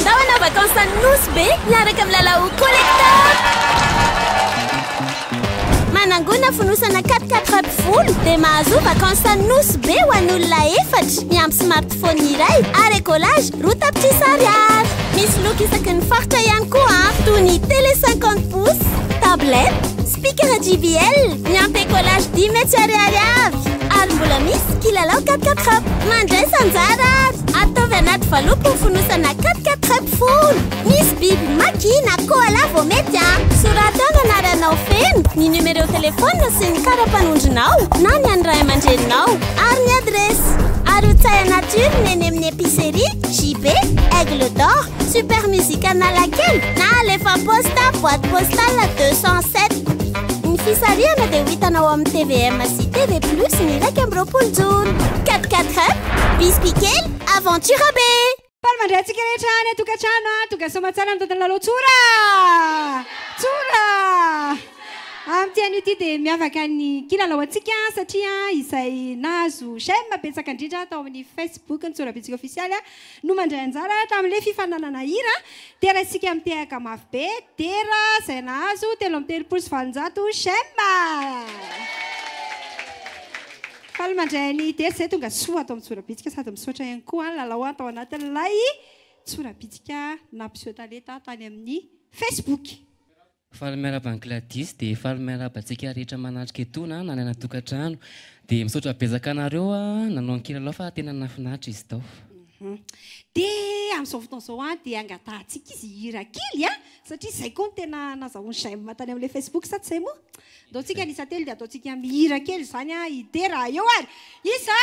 Ndao hanao vacances any Nosy be miaraka amin'ny Lalao Collector! Manangona fonosana 4 4 vato folo dia mahazoa vacances any Nosy be ho an'olona efatra miampy smartphone iray ary écolage roa tapitrisa Ariary. Misy loko isaky ny faritra ihany koa toy ny télé 50 pouces, tablette, Pikara JBL, miampy écolage dimy hetsy ariary avy. Ary mbola misy kilalao quatre quatre up. Mandraisa anjara ary ataovy anaty valopy ho fonosana quatre quatre up folo. Misy biby maki na koala vao mety a! Soraty ao ny anaranao feno, ny numéro téléphone sy ny kara-panondronao na ny an'ny ray aman-dreninao ary ny adiresy. Arotsay anaty urne eny amin'ny épicerie JB, Aigle d'Or. Super Music Analakely na alefa am-paositra boîte postale 207. Ny fisarihana dia ho hitanao amin'ny tvm sy TV Plus ny iraika amby roapolo jona. 4-4 up, bisby kely, aventure be! Paly mandray antsika rehetra any an-tokantrano a! Tonga soa aman-tsara ny tantan'ny lalao Tsora! Tsora! Amin'ity anio ity dia miavaka ny kilalao antsika satria izay nahazo j'aime betsaka indrindra tao amin'ny Facebook ny Tsorabitsika ofisialy a! no mandray anjara tamin'ilay fifaninanana hira Dera isika mitehaka mafy be, Dera, izay nahazo telo amby telopolo sy valonjato j'aime. Faly mandray an'i Dera izay tonga soa ato amin'ny Tsorabitsika sady misaotra ihany koa ny lalao tao anatin'ilay Tsorabitsika nampiseho talenta tany amin'ny Facebook. Faly miaraba an'i Gladys dia faly miaraba antsika rehetra manatrika etoana an, na any anatokantrano dia misaotra betsaka anareo nanao ny kilalao fa tena nahafinaritra izy tao. Dia amin'izao fotoana izao dia angatahantsika izy hihira kely an, satria izay koa no tena nazahoany j'aime tany amin'ilay Facebook sa tsy izay moa? Andaontsika ny isa telo dia ataontsika mihira kely izany an, hidera, eo ary! Isa,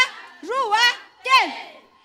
roa, telo!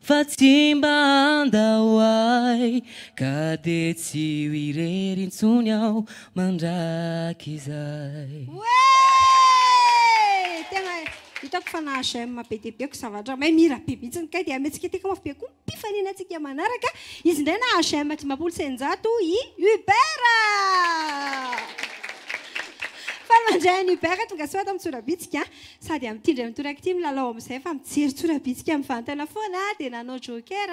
Fa tsy mba handao ahy Ka dia tsy ho irery intsony aho mandrakizay Oe! Tena hitako fa na j'aime be dia be ko ça va mahay mihira be mihitsy kay dia ametsiketeka mafy be koa ny mpifanena antsika manaraka izy indray na j'aime dimampolo sy eninjato i Hubert Fa mandray an'i Hubert tongasoa ato amin'ny Tsorabitsika Sady amin'ity indray mitoraka ity milalao amin'izay fa mijery tsora-bitsika mivantana foana dia nanao joker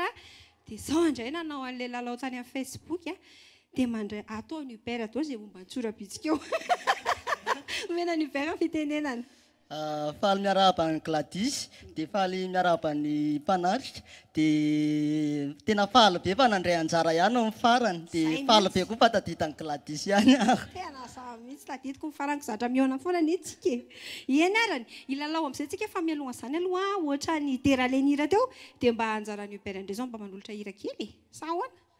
dia izao indray nanao an'ilay lalao tany amin'ny facebook dia mandray ato aho ny uber daholo izay momba ny tsora-bitsika eo. Omena an'i uber ny fitenenana. Faly miarahaba an'i Gladys dia faly miarahaba ny mpanatrika Dia tena faly be fa nandray anjara ihany aho ny farany, dia faly be koa fa taditan'i Gladys ihany aho. Tena za mihitsy tadidiko ny farany, zatra mihaona foana anie tsika e! Eny arany, hilalao amin'izay tsika fa mialoha an'izany aloha ohatra ny dera alain'ny hira teo dia mba anjaran'i Hubert indray izao mba manolotra hira kely e! Sa ahoana?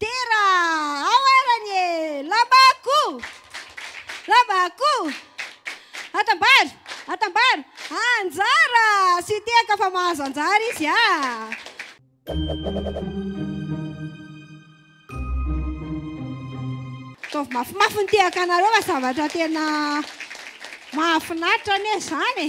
Dera ao arany e! Lambako! Lambako! Atambaro! Atambaro! Anjara! Sy tehaka fa mahazo anjara izy ah! Ataovy mafimafy ny tehaka anareo fa zavatra tena mahafinaritra anie izany e!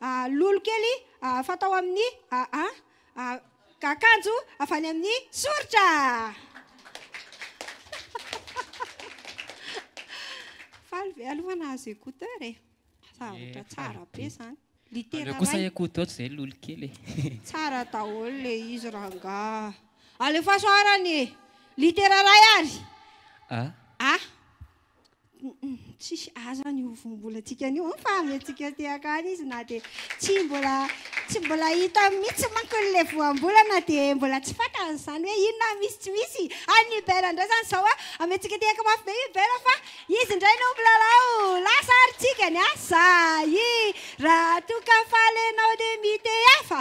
a lolo kely a fatao amin'ny a a a akanjo avy any amin'ny soritra faly ve aloha nahazo écouteur e zavatra tsara be zany litera kosa écouteur zay lolo kely e tsara daholo le izy rangah alefaso arany litera ray ary a a Tsisy aza ny ovohom-bolantsika anio an, fa amentsika aty akany izy na dia tsy mbola tsy mbola hita mihitsy manko ilay voambolana dia mbola tsy fantany izany hoe inona ny misy tsy misy an'i Hubert indray izany izao an, amentsika aty akany mafy be i Hubert fa izy indray no milalao lasa ary tsika ny asa i Raha toa ka faly ianao dia mitehafa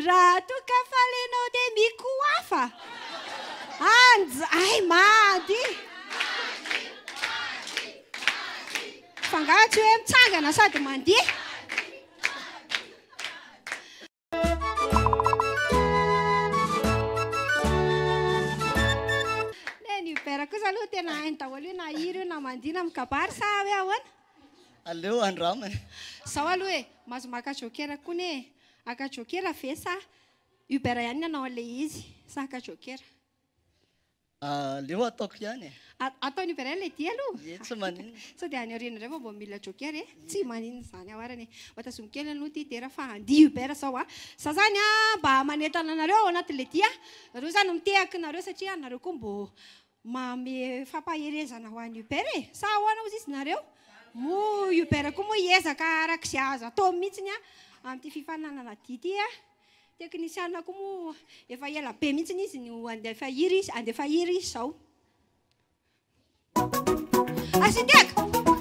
Raha toa ka faly ianao dia mikohafa Anj, ay mandy. Fangah tsy hoe mitsangana sady mandeha. tena hainy daholo io na hira io na mandihy na mikabary sa hoe ahoana? Aleo andramana. Zaho aloha e, mahazo maka jokera koa ne. Aka jokera ve sa Uber ihany ny anao an'ilay izy. Sahaka jokera. Aleo ataoko ihany e. Ataon'i Uber ihany ilay dia aloha. Ie, tsy maninona. Sao dia any aoriana indray vao vao mila jokera e. Tsy maninona izany ao arany e. Mba tazomiko kely aloha ity dera fa handia Uber izao a. Za izany a, mba manentana anareo ao anatin'ilay dia. Nareo izany mitehaka nareo satria nareo koa mbô Manome fampaherezana ho an'i Uber e! Sa ahoana hozy izy nareo? Moa Uber koa moa hiezaka araka izay azo atao mihitsy amin'ity fifaninanana dihy ity a! Teknisiana koa moa efa ela be mihitsy izy no handefa hira izy handefa hira izy izao. Architecte!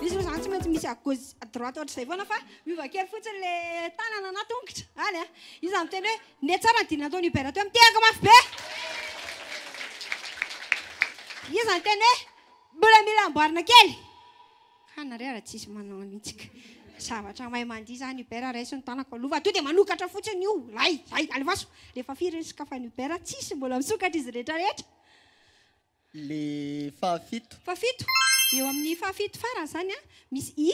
Izy moa zany tsy maintsy misy à gauche à droite ohatr'izay foana fa miova kely fotsiny le tanana na tongotra any a. Io zany miteny hoe ne tsara ny dina nataon'i Hubert teo, mitehaka mafy be. Io zany teny hoe mbola mila amboarina kely. Kay nareo ary tsisy manao mihitsy ka. Zavatra mahay mandihy zany Hubert raiso ny tanako aloha fa tonga dia manokatra fotsiny io, zay, zay, alefaso. Rehefa firy ny sokafan'i Hubert tsisy mbola misokatra izy rehetra rehetra. Le fahafito. Fahafito. Eo amin'ny fahafito farany zany an, misy i.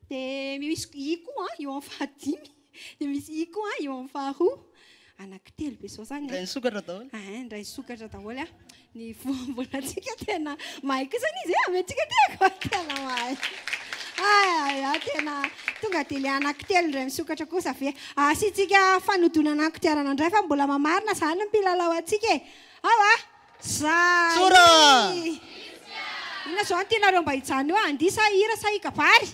Dia misy i koa eo amin'ny fahadimy. Dia misy i koa eo amin'ny faharoa. Anaky telo be zao zany. Indray nisokatra daholo. Ah, indray nisokatra daholo an. Ny voambolantsika tena mahay kosa ny izy e, amy antsika ty ako. Tena mahay. Ay, ah, tena tonga dia le anaky telo indray misokatra kosa ve. Asiantsika fanodonana ny kodiarana indray fa mbola mamarina zany ny mpilalao antsika e. Ao ah. Tsora! Inona izao no tianareo mba hijanona eo? Andihy sa hira sa hikabary?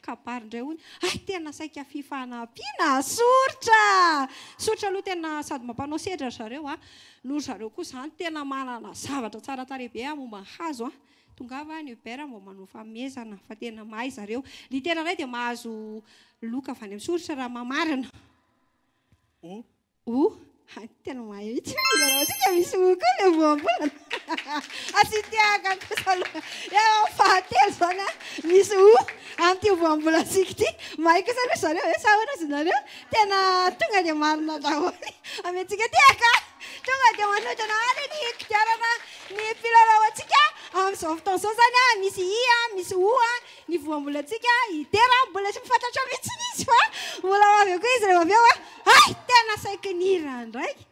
Kabary indray hono. Hay tena saika fifanampiana. Soritra! Soritra aloha tena sady mampanao sedra ry zareo a. Noho ry zareo koa izany tena manana zavatra tsara tarehy be momba ny hazo a. Tongava any Hubert mba manao fanomezana fa tena mahay ry zareo. Litera iray dia mahazo loka avy any amin'ny soritra raha mamarina. O! hay tena mahay mihitsy ny lalao tsika misy o koa le voambolana a tsy tiaka kosa aloha eo am fahatelo zany a misy o amty voambolantsika ity mahay kosa aloha zareo e sa ahoana zy nareo tena tonga dia marina daholo amentsika tiaka tonga dia manodina any ny kodiarana ny filalaoantsika amzao fotoana zao zany a misy i a misy o a ny voambolantsika hidera mbola tsy fantatra mihitsy izy fa mbola ho avy eo koa izy rehefa avy eo hay tena saiky ny hira ndraiky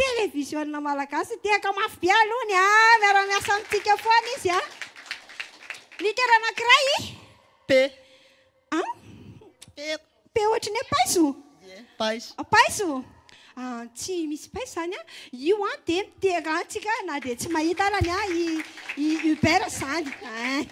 télévision malagasy tehaka mafy be aloha ny a miara miasa amintsika foana izy a ny tera anankiray p a p Be ohatry ny hoe paiso? Paiso. Paiso? Ah, tsy misy paiso izany an. Io an dia miterahantsika na dia tsy mahita arany an i i Hubert izany. Ah,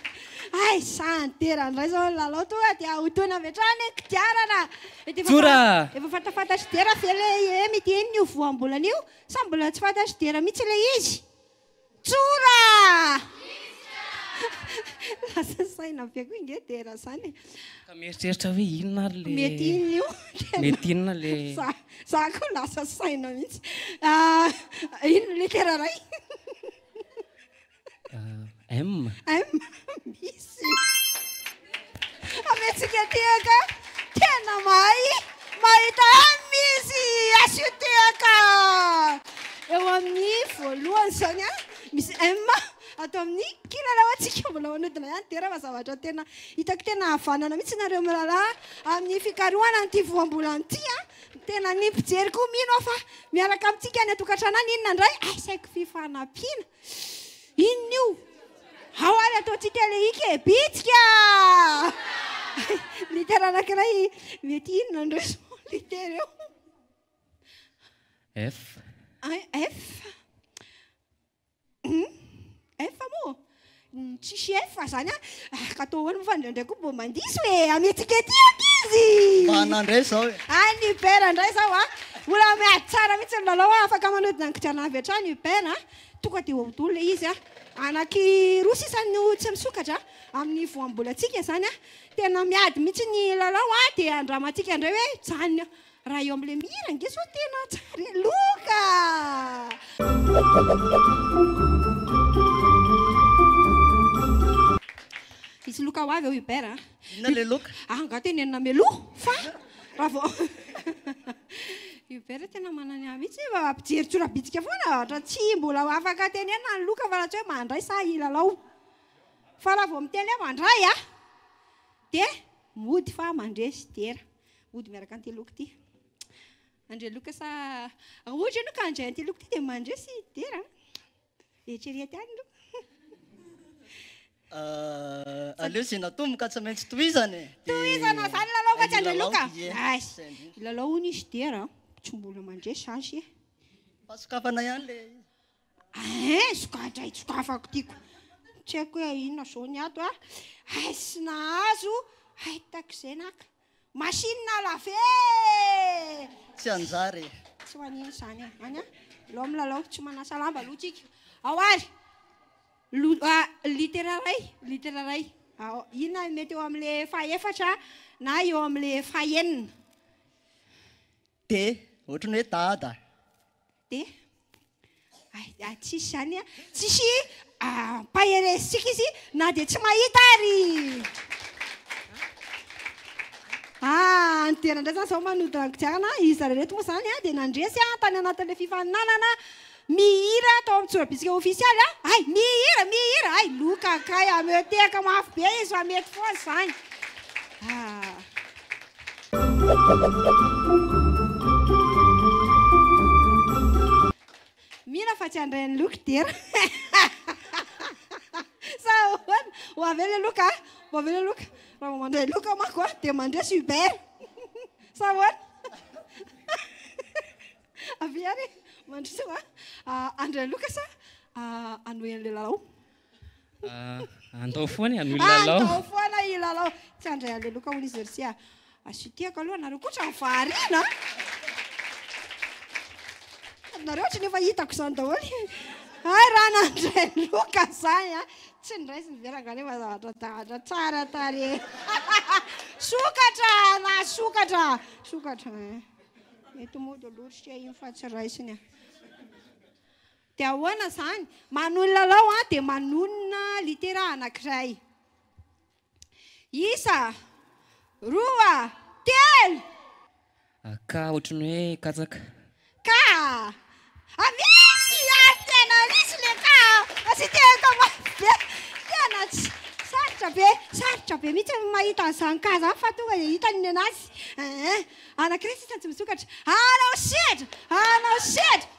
ay sa nitera indray izao ny lalao tonga dia ahotoana avy hatrany ny kodiarana. Mety efa Tsora! fa- efa fantafantatr'i Dera ve ilay hem ity eny io voambolana io sa mbola tsy fantatr'i Dera mihitsy ilay izy? Tsora! Lasa saina be koa inge dera zany e. Ka mieritreritra hoe inona ary le. Mety inona io? Mety inona le. Za, za koa lasa saina mihitsy. Ah, inona le kera ray? Ah, M. M, misy. Aventsika tehaka tena mahay mahita M izy asio tehaka eo amin'ny voalohany izany a misy M ato amin'ny kilalao antsika mbola manodina ihany dera fa zavatra tena hitako tena havanana mihitsy nareo mirahalahy amin'ny fikarohana an'ity voambolana ity a tena ny mpijery koa mino aho fa miaraka amintsika any an-tokantrano any inona indray asaiko fifanampiana Inona io? Ao ary ataontsika le ika e, bitsika! Litera anankiray mety inona ndry zao litera eo? F. F. F moa? Tsisy efa zany a! Ka atao ahoana moa fa indraindray koa mba mandiso e! Ametsika ety ankizy! Mba na indray izao e! Any Uber indray izao a! Mbola miady tsara mihitsy ny lalao a! Afaka manodina ny kodiarana avy hatrany Uber a! Tonga dia eo daholo ilay izy a! Anaky roa sisa no tsy misokatra amin'ny voambolantsika izany a! Tena miady mihitsy ny lalao a! Dia andramantsika indray hoe mijanona eo! Raha eo amin'ilay mihira ange zao tena tsara e! Loka Misy loka ho avy ao Hubert a. Inona ilay loka? Ah, angaha tenenina mialoha fa raha vao Hubert tena manana ahy mihitsy fa mpijery tsorabitsika foana ohatra tsy mbola ho afaka tenenina ny loka fa raha tsy hoe mandray sa hilalao. Fa raha vao miteny hoe mandray a dia mody fa mandresy dera. Hody miaraka anteloko ity. André Loka sa Raoul ianao ka handray anteloko ity dia mandre sy dera. Eritrereto ihany aloha. Aleo izay natomboka tsy maintsy tohizana e. Tohizana izany lalao mantsy André Loka. Lalao hono izy dera. Tsy mbola mandre sazy e. Fa sokafana ihany ilay izy. Ain! Sokajay tsokafako tiako. Tsy haiko hoe inona zao ny ato a. Hay tsy nahazo, hay takizay naka. Machine à laver! Tsy hanjary e! Tsy ho an'iny izany e. Any a! Alao milalao, tsy manasa lamba aloha tsika. Ao ary! Lo, a, litera iray, litera iray. Ao, inona ny mety eo amin'ilay fahefatra na eo amin'ilay fahenina? D, ohatran'ny hoe dada. Dia hay tsisy izany a! Tsisy ampaherezintsika izy na dia tsy mahita ary! Ah, any Dera indray izany izao manodina ny kodiarana. Izy zareo ireto moa izany dia nandresy ahy tany anatin'ilay fifaninanana mihira tao amin'ny Tsorabisika ofisialy. Hay, mihira, mihira! Hay, loka kay, ameo tehaka mafy be izy fa mety foana izany. Ah. Mila fa tsy handray an'i Loky dera. Sa ahoana? Ho avy eo ilay Loka a! Ho avy eo ilay Loka. Raha vao mandray Loka manko a, dia mandresy Hubert. Sa ahoana? Avia ary e! Mandroso a! Handray Loka sa hanohy an'ilay lalao? Andao foana ianao hilalao. Andao foana hilalao. Tsy handray an'ilay loka hono izy ry Sia. Asitihako aloha anareo koa ohatran'ny variana a! Sady nareo ohatran'ny efa hitako izany daholo. Hay raha nandray loka izany a! Tsy ny raisiny ve rangahy nefa zavatra an-dahatra tsara tarehy. Sokatra ana, sokatra, sokatra. Mety mody lorisika iny fa tsy raisiny a! Dia ahoana izany? Manohy ny lalao an, dia manonona litera anankiray. Isa, roa, telo! A, K, ohatry ny hoe katsaka. K, A, Misy ihany tena misy le K a! Tsy tehiko mafy be. Tena tsy, sarotra be, sarotra be mihitsy ny mahita an'izany K izany fa tonga dia hitany ny an'azy. Ee, anankiray sisa no tsy misokatra. Hanao sehatra! Hanao sehatra!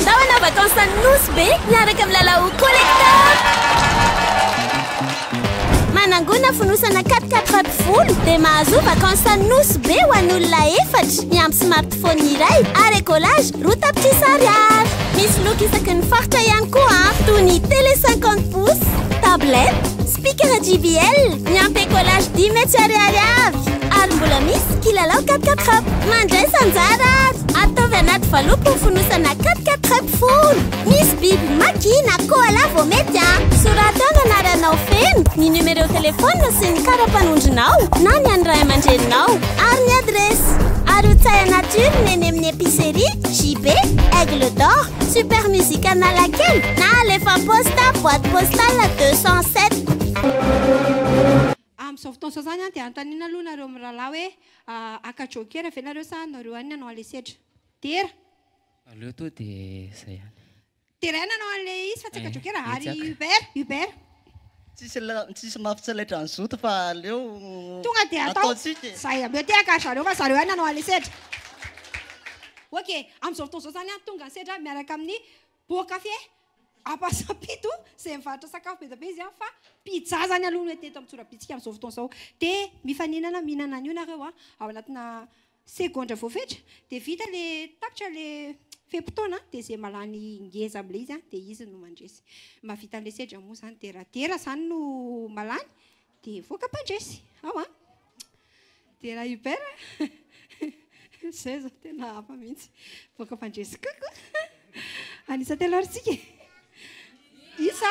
Ndao hanao vacances any Nosy be miaraka amin'ny Lalao Collector! Manangona fonosana quatre quatre pattes folo dia mahazoa vacances any Nosy be ho an'olona efatra miampy smartphone iray ary écolage roa tapitrisa ariary. Misy loko isaky ny faritra ihany koa an, toy ny télé cinquante pouces, tablette, Pikara JBL, ny ampé collage dimy hetsy ariary avy. Ary mbola misy kilalao 4-4 up. Mandraisa anjara ary ataovy anaty valopy ny fonosana 4-4 up folo. Misy biby maki na koala vao mety a! Soraty ao ny anaranao feno, ny numéro téléphone sy ny kara-panondronao na ny an'ny ray aman-dreninao ary ny adiresy. Ary ho tsay anaty urne eny amin'ny épicerie JB Aigle d'Or. Super musique Analakely na alefa am-posta boite postale 207. Amin'ny izao fotoana izao izany dia anontaniana aloha nareo mirahalahy hoe haka jokera ve nareo sa nareo ihany ny hanao an'ilay sedra? Dera! Aleo tonga dia izay ihany. Dera ihany hanao an'ilay izy fa tsy haka jokera. Ary Hubert? Hubert? Tsisy mafy tsy laitra ny zoto fa aleo Tonga dia atao ataontsika e. izay ameo tehaka ry zareo fa zareo ihany nanao an'ilay sedra. Ok, amin'izao fotoana izao izany tonga ny sedra miaraka amin'ny boan-kafe Ampasampito izay mivarotra sakafo be dia be izy fa pizza izany aloha no hita eto amin'ny tsorabitsika amin'izao fotoana izao. Dia mifaninana mihinana an'io nareo ao anatina segondra voafetra dia vita le tapitra le fe-potoana dia ze malany ngeza amle izy an dia izy no mandresy mahavita anle sedra moa zany dia raha dera zany no malany dia voaka mpandresy ao an dia raha uber zay zao tena hafa mihitsy voaka mpandresy coucou anisa telo ary tsika isa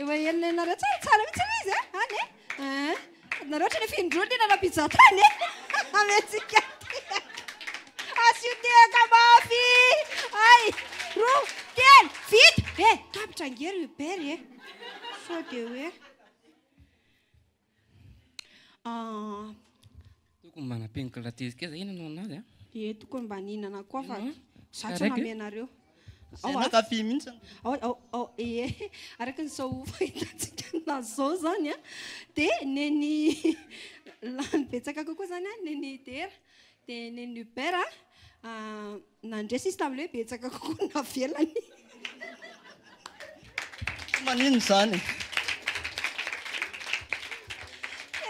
Efa henonenonareo tsara tsara mihitsy aloha izy eh, any eh. Ah, adinareo ohatran'ny efa indroa ny nanao pizza tany eh. Ametsika tehaka. Asio tehaka mafy. Ay, roa, telo, vita. Eh, tapitra angery Hubert eh. Sao dia hoe. Tokony mba nampian'kla tezy kely za, inona no an'azy an? Ye tokony mba nihinana koa fa za tsy manome anareo. Zay anao kafy mihitsy an. Ye araka ny sao fahitantsika an'azy zao zany an dia nen'i lany betsaka kokoa zany an, nen'i dera dia nen'i hubert an. Nandresy izy tamin'ilay hoe betsaka kokoa ny navelany. Tsy maninona izany e!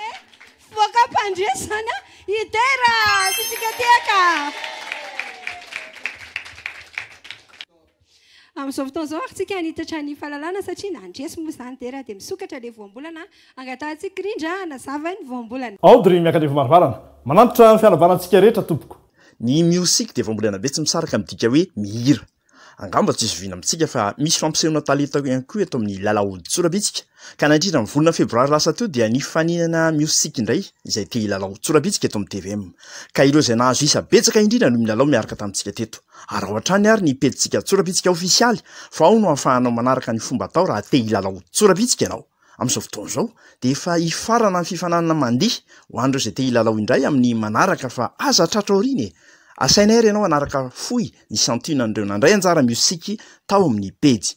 Eh, fivoaka mpandresy izany an! Hidera! Fitsikatiaka! Amin'izao fotoana izao ary tsika hanitatra ny fahalalana satria na handresy moa izany dera dia misokatra ilay voambolana angatahantsika rindra hanazava ny voambolana. Aody ry Miakandrivo Marivarana. Manantitra ny fianabana antsika rehetra tompoko. Ny miosic dia voambolana be tsy misaraka amin'ny dika hoe mihira. Angamba tsy zoviana amintsika fa misy fampisehoana talenta ihany koa eto amin'ny lalaodin-tsorabitsika Ka nandritra ny volana febroary lasa teo dia nifaninana miosic indray izay te hilalao tsorabitsika eto amin'ny tvm. Ka ireo izay nahazo isa betsaka indrindra no milalao miaraka tamintsika teto. Araho hatrany ary ny pejintsika tsorabitsika ofisialy fa ao no ahafahanao manaraka ny fomba atao raha te hilalao tsorabitsika ianao. Amin'izao fotoana izao dia efa hifarana ny fifaninanana mandihy ho an'ireo izay te hilalao indray amin'ny manaraka fa aza tratra aoriana e! Asainay ary ianao hanaraka fohy ny santionan'ireo nandray anjara miosic tao amin'ny pejy.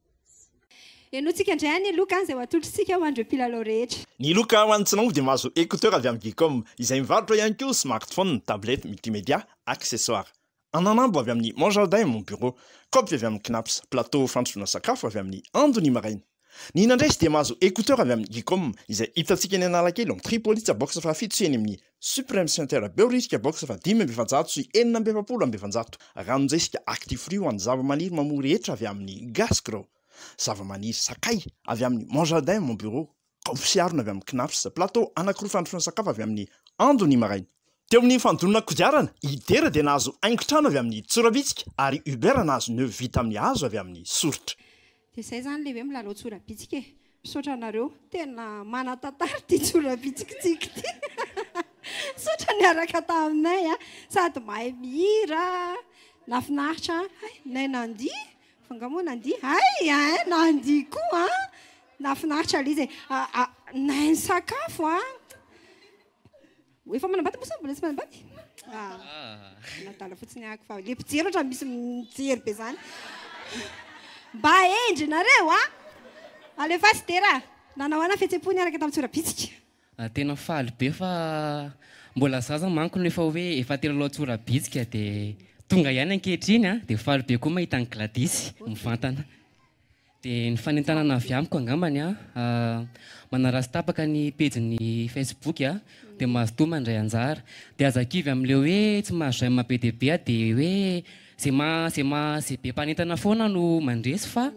Henointsika indray anie loka izay ho atolotr'isika ho an'ireo mpilalao rehetra. Ny loka ho an'ny tsy nanompo dia mahazo écouteur avy amin'ny Vcom, izay mivarotra ihany koa smartphone, tablette multimédia, accessoires. Ananambo avy amin'ny Mon Jardin et Mon Bureau, kaopy avy amin'ny Cnaps, plateau fandrosoana sakafo avy amin'ny Ando ny maraina. Ny nandresy dia mahazo écouteur avy amin'ny Vcom, izay hitantsika eny Analakely ao amin'ny Tripolitsa box fahafito sy eny amin'ny Supreme Center Beo Risika Box Fa dimy amby efajato sy enina amby efapolo amby efajato Ranonjesika Actifree ho an'ny zavamaniry mamory hetra avy amin'ny Gascro Zavamaniry Sakay avy amin'ny Mon Jardin Mon Bureau Kaopsy Harona avy amin'ny Knaps Plateau anankiroa Fandrosoana Sakafo avy amin'ny Ando ny maraina Teo amin'ny fandonana kodiarana, Idera dia nahazo haingon-trano avy amin'ny Tsorabitsika ary Uber nahazo nœud vita amin'ny hazo avy amin'ny Soritra. Dia zay zany le hoe milalao tsorabitsika e. Misaotra anareo. Tena manan-tantara ity tsorabitsikintsika ity. Misaotra niaraka taminay a. Sady mahay mihira. Nafinaritra. Hay, nay Nandi? Fa nga moa Nandi? Hay hein, Nandi koa an. Nafinaritra lzy e. Nay ny sakafo an. Efa manambady moa sa mbola tsy manambady? Ah, adala fotsiny ahako fa le mpijery ohatra misy mijery be zany. Mba hendry nareo a! Alefaso dera! Nanao ana fihetsem-po niaraka tamin'ny tsorabitsika. Ah, tena faly be fa mbola zaza manko no efa hoe efa telo lalao tsorabitsika dia tonga ihany ankehitriny a! Dia faly be koa mahita an'i Gladys mivantana. Dia ny fanentanana avy amiko angambany an, manaratsy tapaka ny pejy ny facebook an, dia mazotoa mandray anjara. Dia aza kivy amin'ilay hoe tsy mahazo j'aime be dia be an, dia hoe izay maha izay maha izay be mpanentana foana no mandresy fa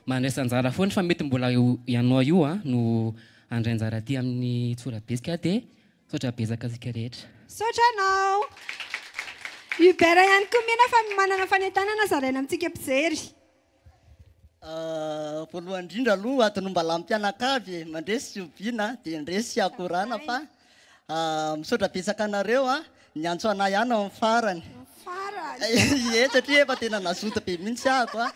mandraisa anjara foana fa mety mbola ianao io an no handray anjara aty amin'ny tsorabesika an, dia misaotra betsaka antsika rehetra. Misaotra anao. Hubert ihany koa mena fa manana fanentanana zaraina amintsika mpijery. Voalohany indrindra aloha adin'ombalam-pianakavy e, mandresy sy oviana dia ndresy sy akorana fa misaotra betsaka anareo a, niantso anah ihany ao amin'ny farany, ie satria efa tena nazoto be mihitsy aho ko a,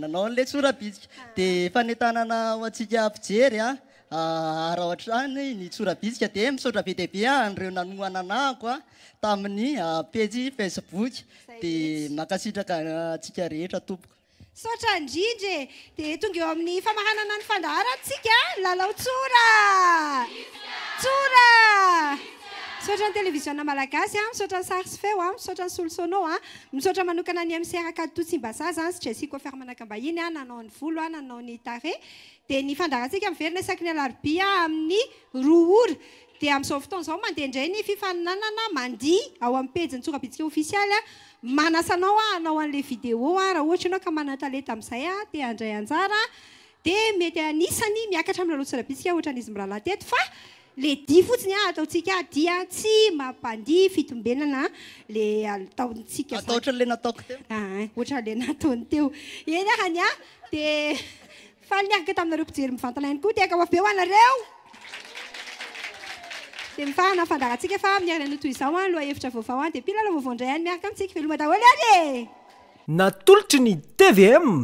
nanao an'ilay tsora-bitsika, dia fanentanana ho antsika mpijery a. Ara hatrany ny tsora-bitsika dia misaotra be dia be an'ireo nanohana anako a tamin'ny pejy Facebook dia mankasitraka antsika rehetra tompoko. Misaotra indrindra e! Dia tonga eo amin'ny famaranana ny fandaharantsika ny lalao tsora tsora. Misaotra ny televiziona malagasy a, misaotra ny sary sy feo a, misaotra ny solosono a, misaotra manokana ny MC Rakatoto Tsimbazaza sy Jessie Coiffeur Manakambahiny a nanao ny volo a, nanao ny tarehy. Dia ny fandaharantsika miverina isaky ny alarobia amin'ny roa ora. Dia amin'izao fotoana izao mandeha indray ny fifaninanana mandihy ao amin'ny pejin'ny Tsorabitsika Ofisialy. Manasa anao hanao an'ilay vidéo raha ohatra ianao ka manan-talenta amin'izay te handray anjara dia mety anisany miakatra amin'ny lalao Tsorabitsika ohatran'izy mirahalahy teto fa Le dia fotsiny ah ataontsika ah dia tsy mampandihy fitombenana le ataontsika zany. Atao ohatran'le nataoko teo. Ah ah ohatran'le nataony teo. Eny ah hany ah de faly niaraka taminareo mpijery mivantana ihany koa tehaka ho avy be ho anareo. De mifahana ny fandaharantsika fa amin'ny herinandro toy izao ah lohahevitra vaovao ah dia mpilalao vaovao indray any miaraka amintsika. Veloma daholo ary e! Natolotry ny tvm